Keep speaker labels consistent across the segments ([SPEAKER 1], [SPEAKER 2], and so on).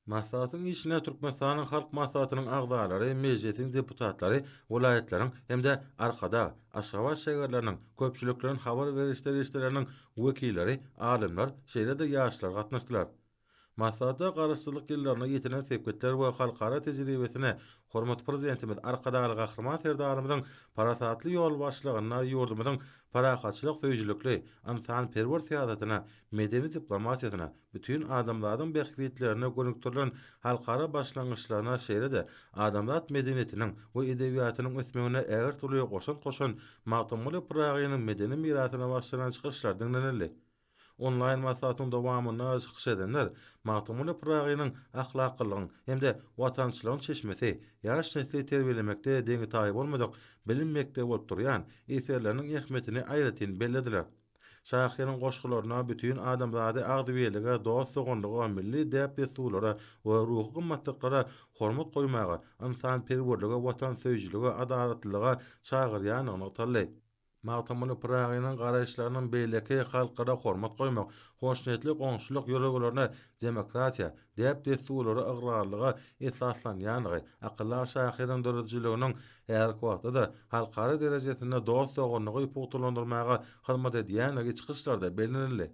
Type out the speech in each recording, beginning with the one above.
[SPEAKER 1] Maslahatyň işine Türkmenistanyň Halk Maslahatynyň agzalary, Mejlisiň deputatlary, welaýatlaryň hem-de Arkadag, Aşgabat şägerleriniň köpçülikleýin habar beriş serişdeleriniň wekilleri, alymlar, şeýle-de ýaşlar gatnaşdylar. Maslahata Garaşsyzlyk ýyllarynda ýetilen sepgitler we halkara tejribesine hormatly Prezidentimiz Arkadagly Gahryman Serdarymyzyň parasatly ýolbaşçylygynda ýurdumyzyň parahatçylyk söýüjilikli, ynsanperwer syýasatyna medeni diplomatiýasyna, bütin adamzadyň bähbitlerine gönükdirilen halkara başlangyçlaryna, şeýle-de adamzat medeniýetiniň we edebiýatynyň ösmegine ägirt uly goşant goşan Magtymguly Pyragynyň medeni mirasyna bagyşlanan çykyşlar diňlenildi. Onlaýn maslahatyň dowamynda çykyş edenler Magtymguly Pyragynyň ahlaklylygyň hem-de watançylygyň çeşmesi, ýaş nesli terbiýelemekde deňi-taýy bolmadyk bilim mekdebi bolup durýan eserleriniň ähmiýetini aýratyn bellediler. Şahyryň goşgularyna bütin adamzady agzybirlige, dost-doganlyga, milli däp-dessurlara we ruhy gymmatlyklara hormat goýmaga, ynsanperwerlige, watansöýüjilige, adalatlylyga çagyrýandygy nygtaldy. Magtymguly Pyragynyň garaýyşlarynyň beýleki halklara hormat goýmak, hoşniýetli goňşulyk ýörelgelerine, demokratiýa, däp-dessurlara ygrarlyga esaslanýandygy, akyldar şahyryň döredijiliginiň häzirki wagtda-da halkara derejesinde dost-doganlygy pugtalandyrmaga hyzmat edýändigi çykyşlarda bellenildi.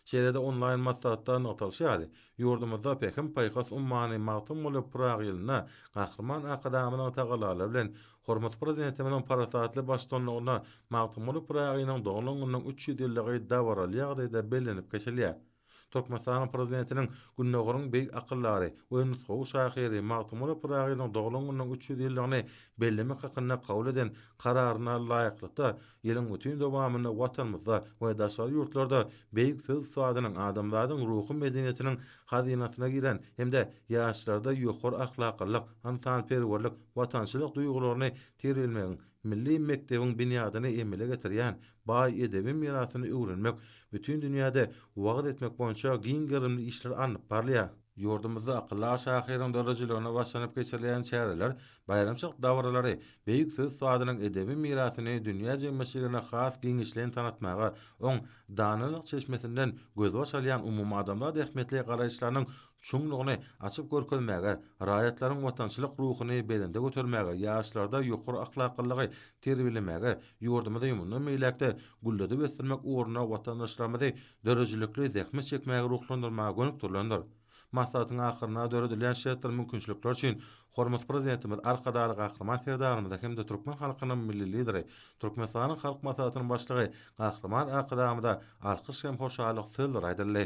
[SPEAKER 1] Şeýle-de onlaýn maslahatda nygtalyşy ýaly, ýurdumyzda Pähim-paýhas ummany Magtymguly Pyragy ýylynda Gahryman Arkadagymyzyň tagallalary bilen, hormatly Prezidentimiziň parasatly baştutanlygynda Magtymguly Pyragynyň doglan gününiň üç ýüz ýyllygy dabaraly ýagdaýda bellenip geçilýär. Türkmenistanyň Prezidentiniň Gündogaryň beýik akyldary we nusgawy şahyry Magtymguly Pyragynyň doglan gününiň üç ýüz ýyllygyny bellemek hakynda kabul eden Kararyna laýyklykda, ýylyň bütin dowamynda Watanymyzda we daşary ýurtlarda beýik söz ussadynyň adamzadyň ruhy medeniýetiniň hazynasyna giren hem-de ýaşlarda ýokary ahlaklylyk, ynsanperwerlik, watançylyk duýgularyny terbiýelemegiň Milli mekdebiň binýadyny emele getirýän baý edebi mirasyny öwrenmek, bütin dünýäde wagyz etmek boýunça giň gerimli işler alnyp barylýar. Ýurdumyzda akyldar şahyryň döredijiligine başlanyp geçirilýän çäreler, baýramçylyk dabaralary beýik söz usadynyň edebi mirasyny dünýä jemgyýetçiligine has giňişleýin tanatmaga, oň danalyk çeşmesinden gözbaş alýan umumadamzat ähmiýetli garaýyşlarynyň çuňlugyny açyp görkezmäge, raýatlaryň watançylyk ruhuny belende götermäge, ýaşlarda ýokary ahlaklylygy terbiýelemäge, ýurdumyzy mundan beýläk-de gülledip ösdürmek ugrunda watandaşlarymyzy döredijilikli zähmet çekmäge ruhlandyrmaga gönükdirilendir. Maslahatyň ahyrynda döredilen şertler-mümkinçilikler üçin hormatly Prezidentimiz Arkadagly Gahryman Serdarymyza hem-de türkmen halkynyň Milli Lideri, Türkmenistanyň Halk Maslahatynyň Başlygy Gahryman Arkadagymyza alkyş hem hoşallyk sözleri aýdyldy.